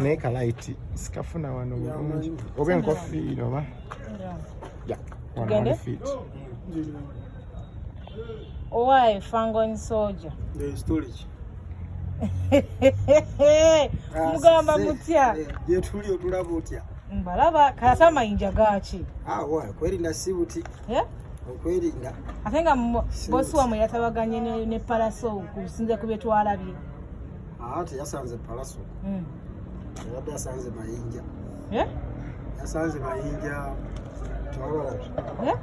naye kalaiti sikafuna wano bulungi oba enkofiira oba tugende owaaye fangon soja mugamba mutya gyetuli otulaba otya mbalaba kati amayinja gaaki kwerinda si buti okwerinda ate nga bosi wamwe yatabaganye ne palaso kusinze ku byetwalabye Ah, teyasanze palaso hmm. yabadde asanze mayinja eh? yasanze mayinja tewalalabi eh?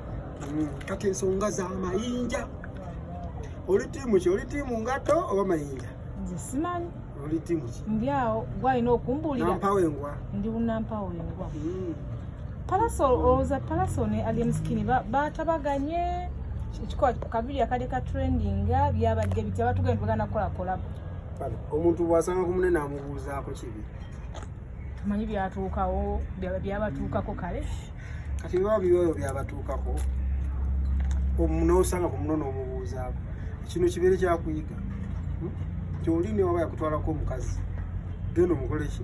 hmm, kati ensonga za mayinja oli tiimu ki oli tiimu ngato oba mayinja simanyi oli tiimu ki ndi awo gwalina okumbulira nampawo engwa ndi unampawo engwa hmm. parasol oza parasol ne alien skin batabaganye ekikola kabiri akade ka trendinga byabadde bitya batugenda bagana kukola kolabo omuntu bwasanga ku munene amubuuzaako kibi tumanyi byatuukawo byabatuukako kale kati biba biyoyo byabatuukako nosanga ku munene omubuuzaako kino kibeere kyakuyiga hmm? kyoli newaba yakutwalako omukazi then omukoleki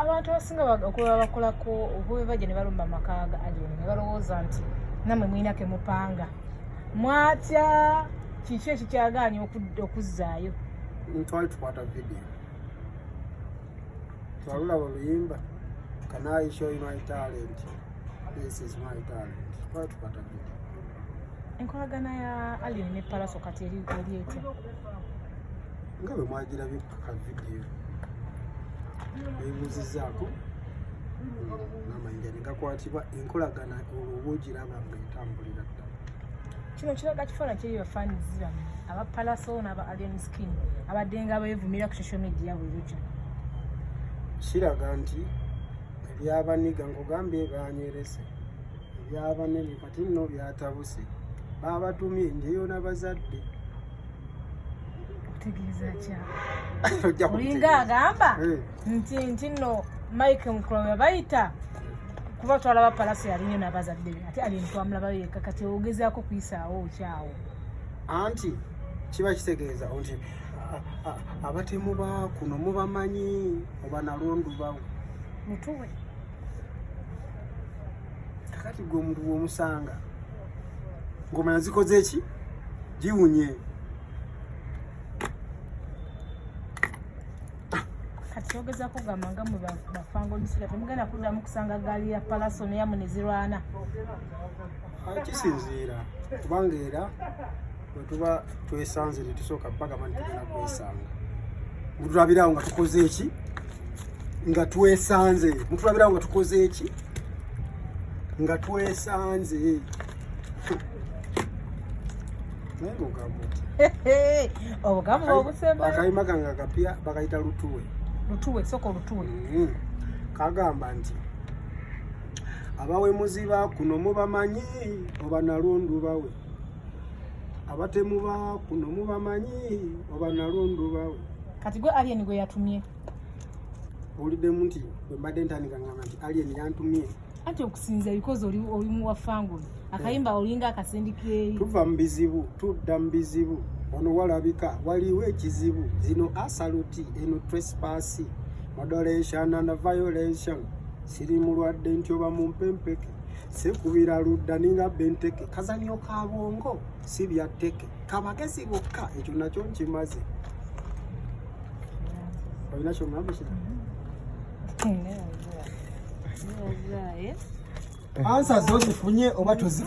abantu abasinga okuba bakolako obubebaja nebalumba amaka ga alien nebalowooza nti namwe mulina kemupanga mwatya kiki ekikyagaanya okuzzaayo ntwali tukwata vidiyo twalulaba oluyimba kanayi show my talent this is my talent twali tukwata vidiyo enkolagana ya alien ne palaso kati eri etya nga bwe mwagirabye ku ka vidiyo beebuuzizzaako n'amayinja ne gakwatibwa enkolagana olwo oba ogiraba nga etambulira ddala kino kiraga kifaana kiri bafaanizi bano aba palaso n'aba alien skin abadde nga beevumira ku social media buli lukya kiraga nti ebyabaniga nkugambye banywerese ebyabanene ati nno byatabuse baabatumye njeyo nabazadde olinga agamba eh. nti nti nno mike mukula webayita kuba twalaba palasi yalinyo nabazadde be ate alintwamulabayo yekka kati ogezaako kuyisaawo okyawo anti kiba kitegeeza nti abatemu ba kuno mubamanyi oba nalondubawo mutuwe kakati gwe omuntu bwomusanga ngomanya zikoze eki giwunye kyogeza kugamba nga mwe bafanga omusira temugenda kuddamu kusanga gaali ya palaso neyamu nezirwana kisinziira kubanga era bwe tuba twesanze ne tusooka bagamba nti tugenda kwesanga mutulabirawo nga tukoze eki nga twesanze mutulabirawo nga tukoze eki nga twesanze obugamu obusebakayima kange akapya bakayita lutuwe lutuwe soko lutuwe mm-hmm. kagamba nti abawemuzi bakuno mubamanyi obanalundu bawe abatemu ba kuno mubamanyi oba nalundu bawe kati gwe alien gwe yatumye owuliddemu nti bwembadde ntandika ngamba nti alien yantumye anti okusinza bikozi oli muwa fangolo akayimba eh. olinga akasindikeeyi tuva mu bizibu tudda mu bizibu ono walabika waliwo ekizibu zino asaluti eno trespasi moderation and violation siri mulwadde nti oba mumpempeke sekubira ludda ninga benteke kazanyo ka bongo si bya teke kabagezi bokka ekyo nakyo nkimaze olina kyomulamusa ansa zozifunye oba tozifu